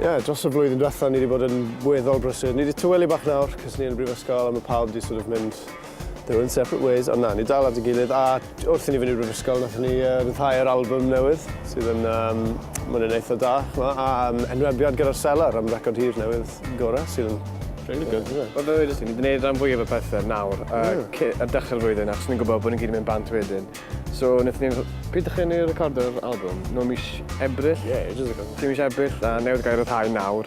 Ie, yeah, dros y blwyddyn diwetha ni wedi bod yn weddol brysur. Ni wedi tywelu bach nawr, cys ni yn y brifysgol a mae pawb wedi sort of mynd their own separate ways, ond na, ni dal at y gilydd a Wrth i ni fynd i'r brifysgol, wnaethon ni uh, ryddhau'r album newydd, sydd yn, um, mae'n yn eitha da, a um, enwebiad gyda'r selar am record hir newydd gorau, sydd yn Really good, isn't it? Wel, fe wedi ti, ni wedi gwneud rhan fwyaf o pethau nawr, a mm. ar dechrau'r flwyddyn, achos ni'n gwybod bod ni'n gyd yn mynd bant wedyn. So, wnaethon ni'n... Pryd ydych chi'n ei recordo'r album? No mis Ebrill? Ie, yeah, ages ago. Ti'n mis Ebrill, a newid gair o thai nawr.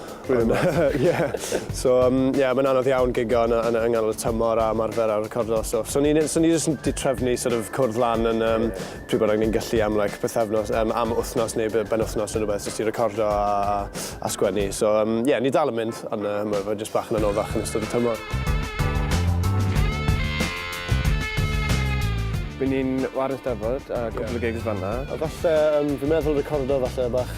Rwy'n meddwl. Ie. So yym ie mae'n anodd iawn gigo yn y yn y yng nghanol y tymor a ymarfer a recordo a stwff. So ni'n so ni jyst yn 'di trefnu sort of cwrdd lan yn yym pryd bynnag ni'n gallu am like pythefnos yym am wythnos neu be- benwythnos ne' rwbeth jyst i recordo a a a sgwennu. So yym ie ni dal yn mynd on' yy ma' fe jyst bach yn anoddach yn ystod y tymor. By' ni'n 'ware 'Steddfod a cwpwl o gigs fan 'na. A falle yym fi'n meddwl recordo falle bach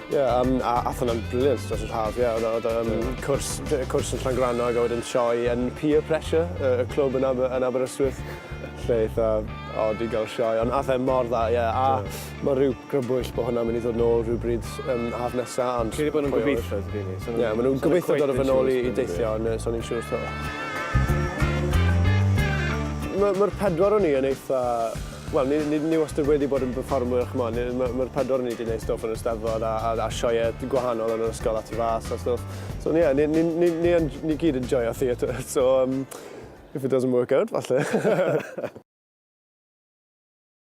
Ie, yym, a- ath hwnna'n brilliant dros yr haf, ie, o'dd o o'dd yym... Do. ...cwrs lle cwrs yn Llangrannog a wedyn sioe yn Peer Pressure y y clwb yn Aber- yn Aberystwyth lle eitha od i ga'l sioe on' ath e mor dda ie a... Do. ...ma' ryw grybwyll bo' hwnna'n myn' i ddod nôl rywbryd yym haf nesa ond... Credu bo' nw'n gobeitho on'd 'yn ni? So... Ie ma' nw'n gobeitho dod â fe nôl i i deithio on' yy sai'n yn siŵr 'to. Ma' ma'r pedwar o ni yn eitha Wel, ni, ni, ni wastad wedi bod yn perfformwyr, ch'mo', ni, ma', ma'r pedwar o ni 'di neud stwff yn yr Eisteddfod a, a, a sioeau gwahanol yn yr ysgol a tu fas a stwff. So, ie, ni, ni, ni, ni, yn, ni gyd yn joio theatr, so, um, if it doesn't work out, falle.